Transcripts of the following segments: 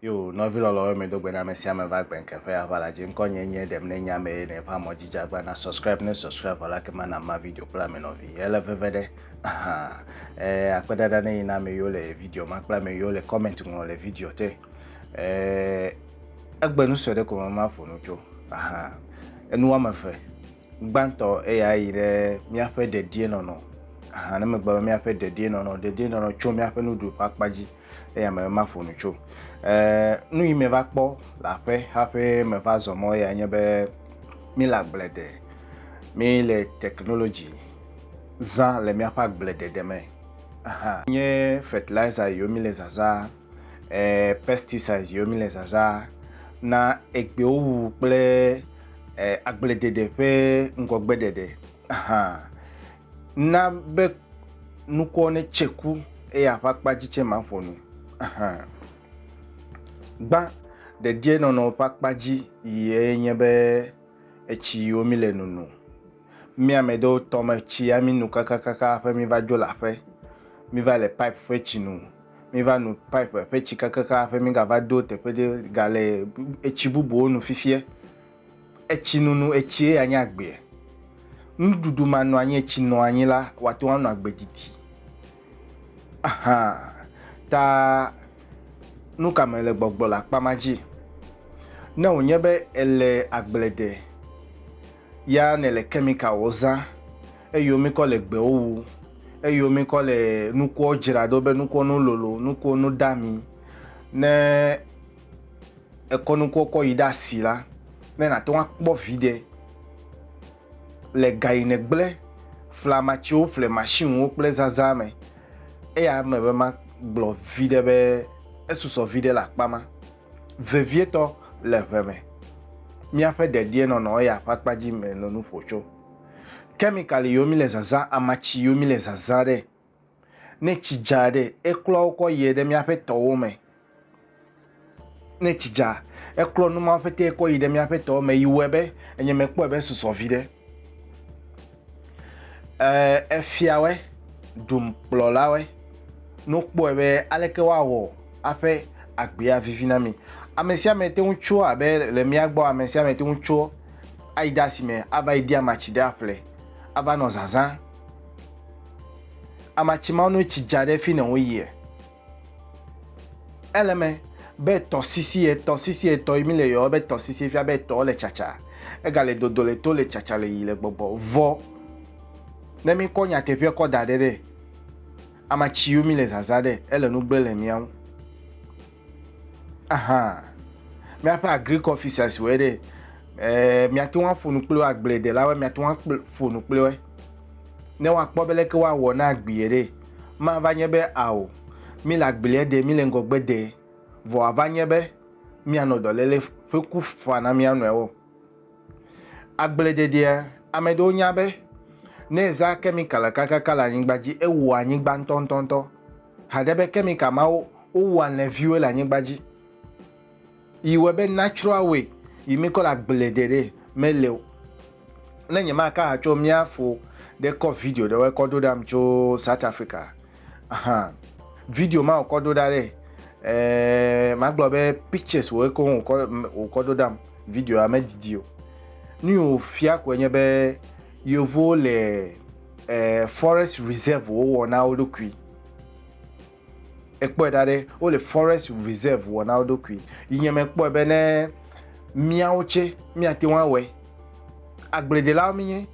yo nɔvi lɔlɔwo mi do gbe na ame sia ame va gbe nkeƒe ava la dzi ŋkɔ nye nye ɖem ne nya me ne va mɔ dzi dzagba na subscribe ne subscribe vala ke mana ma video kple ame nɔvi ele veve ɖe aha eh akpedada ne yina ame yiwo le video ma kple ame yiwo le comment ŋlɔ le video te eh egbe nu sue ɖe ko ma ƒo nu tso aha enu wɔme eve Gbãtɔ, eyae yi ɖe míaƒe dedienɔnɔ. Ahan ne megbe be míaƒe dedienɔnɔ, dedienɔnɔ tso míaƒe nuɖuɖu ƒe akpa dzi. Eya me maƒo nu tso. Ee, nu yi meva kpɔ le aƒe hafi meva zɔ mɔ ya nye be míle agbledede. Míle technology zã le míaƒe agbledede me. Ahan. Nye fertilizer yiwo míle zazã eh, pesticides yiwo mi le zazã na egbewo wuwu kple eh, agbledede ƒe ŋgɔgbeɖeɖe hã na be nukɔ ne tse ku eye aƒe akpa dzi tse ma ƒo nu hã. Gbã ɖedie nɔnɔ ƒe akpa dzi yie nye be etsi yiwo mi le nunu. Mi ame ɖewo tɔme tsi ya mi nu kakakaka aƒe mi va dzo le aƒe, mi va le pipe ƒe tsi nu. Míva nu pipe ƒe tsi kakaka hafi mígava do teƒe ɖe ga le etsi bubuwo nu fifia. Etsinunu, etsie ya nye agbea. Nuɖuɖu ma nɔ anyi, etsi nɔ anyi la, wòate ŋu anɔ agbe didi. Aha, ta nu ka me le gbɔgblɔ le akpa ma dzi? Ne wònye be èle agble ɖe, Ya nèle kɛmikawɔ zã, eyiwo mikɔ le gbewo wu, eyiwo mikɔ le nukuwo dzra do be nukuwo no lolo, nukuwo no de ami. Ne èkɔ nukuwo kɔ yi ɖe asi la, ne nàte ŋu akpɔ viɖe le ga yi nègble ƒleamatsiwo ƒle masiniwo kple zazã me, eya eme be magblɔ viɖe be esusɔ viɖe le akpa ma. vevietɔ le ŋe me. Míaƒe dedienɔnɔ eya ƒe akpa dzi me le nu ƒo tso kemikali yiwo míle zazã, amatsi yiwo míle zazã ɖe. Ne tsi dza ɖe, eklɔa wo kɔ yie ɖe míaƒe tɔwo me. Ne tsi dza, eklɔ nu mawo ƒete kɔ yi ɖe míaƒe tɔwo me yi wɔe be enye mekpɔe be susɔ viɖe. Ee, efiawɔe, dumkplɔlawɔe, nokpɔe be aleke woawɔ aƒe agbea vivi na mi. Ame sia ame te ŋu tso abe le mía gbɔ, ame sia ame te ŋu tso ayi de asime ava yi de amatsi ɖe aƒle, ava nɔ zazã. Amatsi mawo ne tsi dza ɖe fi ne woyia, Ele me be tɔsisi etɔ sisi etɔ yi mi le yɔ be tɔsisi fia be etɔ le tsatsa ega le dodo le to le tsatsa le yi le gbɔgbɔ vɔ ne mi kɔ nyateƒe kɔ da ɖe ɖe amatsi yo mi le zaza ɖe ele nu gble le miawo aha miaƒe agric officers wɔ ɖe eh, miate ŋu aƒo nu kple agbledelawo miate ŋu aƒo nu kple ne woakpɔ be leke woawɔ na agbie ɖe Mava nye be ao, míle agbelia de, míle ŋgɔgbe de, vɔ wòava nye be míanɔ dɔléle ƒe ku faa na mía nɔewo. Agblededea, ame aɖewo nya be ne ezã kemikal kakaka le anyigba dzi, ewua anyigba ŋutɔŋutɔŋutɔ. Haɖe be kemikal mawo wowu alẽviwoe le anyigba dzi. Yi wɔe be natsrɔ̃ awoe, yi mikɔ le agble ɖe ɖe me le o. Ne nye ma ka ha tso mia fo ɖe kɔ video ɖe wɔ kɔ ɖo ɖam tso South Africa ahan video ma wɔ kɔ ɖo ɖa ɖe eh ma gblɔ be pictures wɔ eko wɔ kɔ wɔ kɔ ɖo ɖam video ya me didi o. Nu yi wɔ fia ko enye be yevo le eh forest reserve wo wɔ na wo ɖokui. Ekpɔe ɖa ɖe, wole forest reserve wɔ na wo ɖokui. Yi nye me kpɔe be ne miawo tse mia te ŋu awɔe. Agbledelawo mi nye,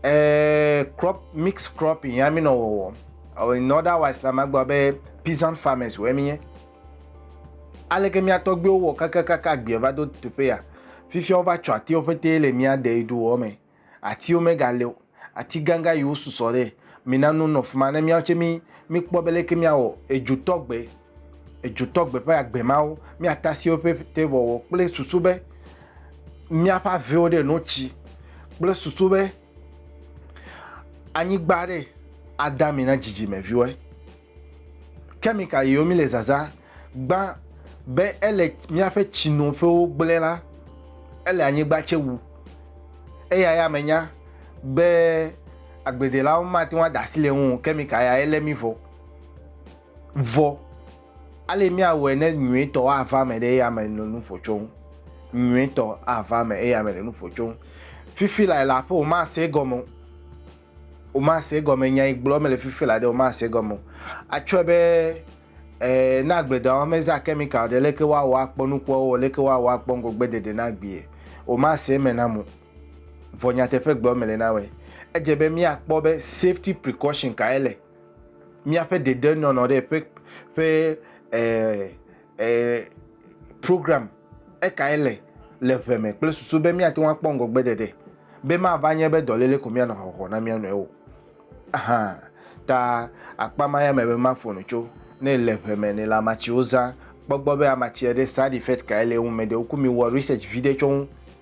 eh, crop, mix cropping ya mi nɔ wɔwɔ. In otherwise la, ma gblɔ be peasant farmers wɔ mi nye. Aleke mia tɔgbiwo wɔ kakakaka agbiɛ va do tuƒe ya? Fifia wova tsɔ atiwo ƒete le mia de yi ɖu wɔ me. Atiwo megali o. Ati gãgã yi wo susɔ ɖe. Mi na nu nɔ fima ne miawo tse mi mi kpɔ be leke mia wɔ edzo tɔ gbe. Edzo tɔ gbe ƒe agbe mawo. Mia tasi woƒe ƒete wɔwɔ kple susu be mia ƒe avewo ɖe no tsi kple susu be anyigba ɖe ada mi na dzidzime viwɔe. Kɛmika yiwo mi le zaza gbã be ele míaƒe tsinoƒewo gblẽ la, ele anyigba tse wu. Eya ya me nya be agbledelawo mate ŋu ada asi le eŋu o, kɛmika ya ye lé mi vɔ. Vɔ, ale míawɔe ne nyuietɔ ava eme ɖe eya me le nuƒo tsom. Nyuietɔ ava eme eya me le nuƒo tsom. Fifi lae la aƒe womase egɔme o. Womase egɔme, nya yi gblɔm mele fifi la ɖe, womase egɔme o. Atsɔe be eh, ne agbledɔwɔwɔ mezã kɛmikal ɖe, leke woawɔ akpɔ nukua wowɔ, leke woawɔ akpɔ ŋgɔgbeɖeɖe na agbee? Womase eme na mo. Vɔ nyateƒe gblɔm mele na woe. Edze be míakpɔ be safety precaution kae le míaƒe dedenɔnɔ ɖe ƒe, ƒe eh, eh, program ekae le le ʋe me kple susu be míate ŋu akpɔ ŋgɔgbedede, be mava nye be dɔléle ko míanɔ hɔhɔ na mía nɔewo hã ta. Akpa ma ya me be maƒo nu tso ne le ʋe me ne le amatsiwo zã. Kpɔ gbɔ be amatsi aɖe side effect kae le eŋu, me ɖewo ku mi wɔ research viɖe tsɔ ŋu.